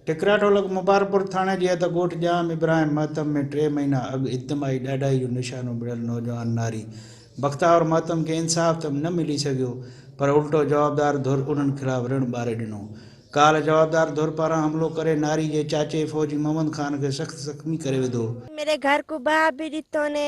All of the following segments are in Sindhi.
ٽڪرا ڍولڪ مبارڪپور ٿاڻي جي حد ڳوٺ ڄام ابراهيم مهتم ۾ ٽي مهينا اڳ اجتماعي ڏاڍائي جو نشانو بڻيل نوجوان ناري بختاور مهتم کي انصاف ته نه ملي سگهيو پر الٽو جوابدار ڌر انهن خلاف رڻ ٻاري ڏنو. ڪالهه جوابدار ڌر پاران حملو ڪري ناري جي چاچي فوجي محمد خان کي سخت زخمي ڪري وڌو. ميري گهر ڪو بها بي ڏتو ني.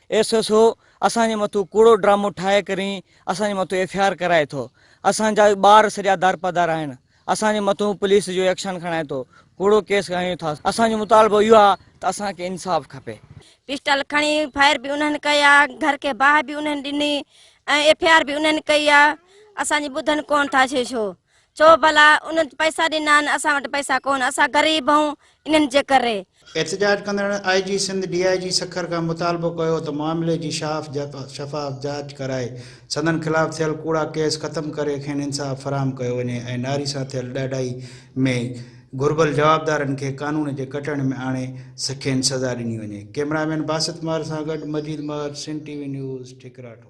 ايس ايس او اسان جي مٿو ڪوڙو ڊرامو ٺاهي ڪرين اسان جي مٿو ايف اي آر ڪرائي ٿو اسان جا ٻار سڄا دارپدار آهن اسان جي مٿو پوليس جو ايڪشن کڻائي ٿو ڪوڙو ڪيس کڻايون ٿا اسان جو مطالبو اهو آهي ته اسان کي انصاف کپي. پسٽل کڻي فائر به انهن ڪيا گهر کي باهه به انهن ڏني ۽ ايف اي آر به انهن ڪئي آ اسان جي ٻڌن ڪون ٿا ڇي ڇو چئو ڀلا انهن پئسا ڏنان اسان وٽ پئسا ڪون اسان غريب هئون انهن جي ڪري. احتجاج ڪندڙن آء جي سنڌ ڊي آء جي سکر کان مطالبو ڪيو ته معاملي جي شاف شفاف جاچ ڪرائي سندن خلاف ٿيل ڪوڙا ڪيس ختم ڪري کين انصاف فراهم ڪيو وڃي ۽ ناري سان ٿيل ڏاڍائي ۾ گهربل جوابدارن کي قانون جي ڪٽهڙ ۾ آڻي کين سزا ڏني وڃي ڪئميرا مين باسط ماهر سان گڏ Majeed Mahar Sindh T V news ٺڪراٺو.